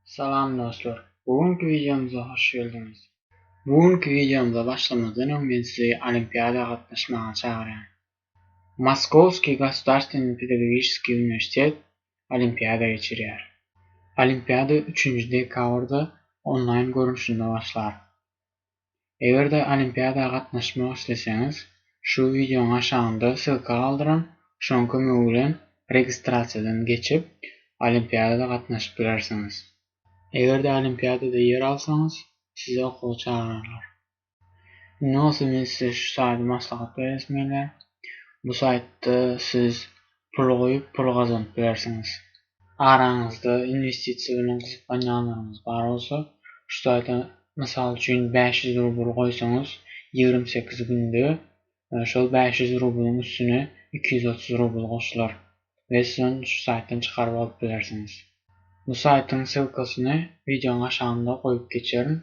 Salam dostlar. Bu günki wideomyza hoş geldiňiz. Bu günki wideomyza başlamazdan öň men sizi olimpiada gatnaşmaga çagyrýan. Moskowskiý gosudarstwennyý pedagogiçeskiý uniwersitet olimpiada geçirýär. Olimpiada üçünji dekabrda onlaýn görnüşinde başlar. Eger-de olimpiada gatnaşmak isleseňiz, şu wideoň aşagynda ssylka galdyran, şoň kömegi bilen registrasiýadan geçip, olimpiadada gatnaşyp bilersiňiz. Eger-de olimpiadada ýer alsaňyz, sizi okuwa çagyrarlar. Nasıl men size şu saýda maslahat beresim gelýär. Bu saýtda siz pul goýup pul gazanyp bilersiňiz. Araňyzda inwestisiýa bilen gyzyklanýanlaryňyz bar bolsa, şu saýda mysal üçin bäş ýüz rubl goýsaňyz ýigrimi sekiz günde şol bäş ýüz rublyň üstüne iki ýüz otuz rubl goşular we siz ony şu saýtdan çykaryp alyp bilersiňiz. Bu saýtyň ssylkasyny wideoň aşagynda goýup geçerin.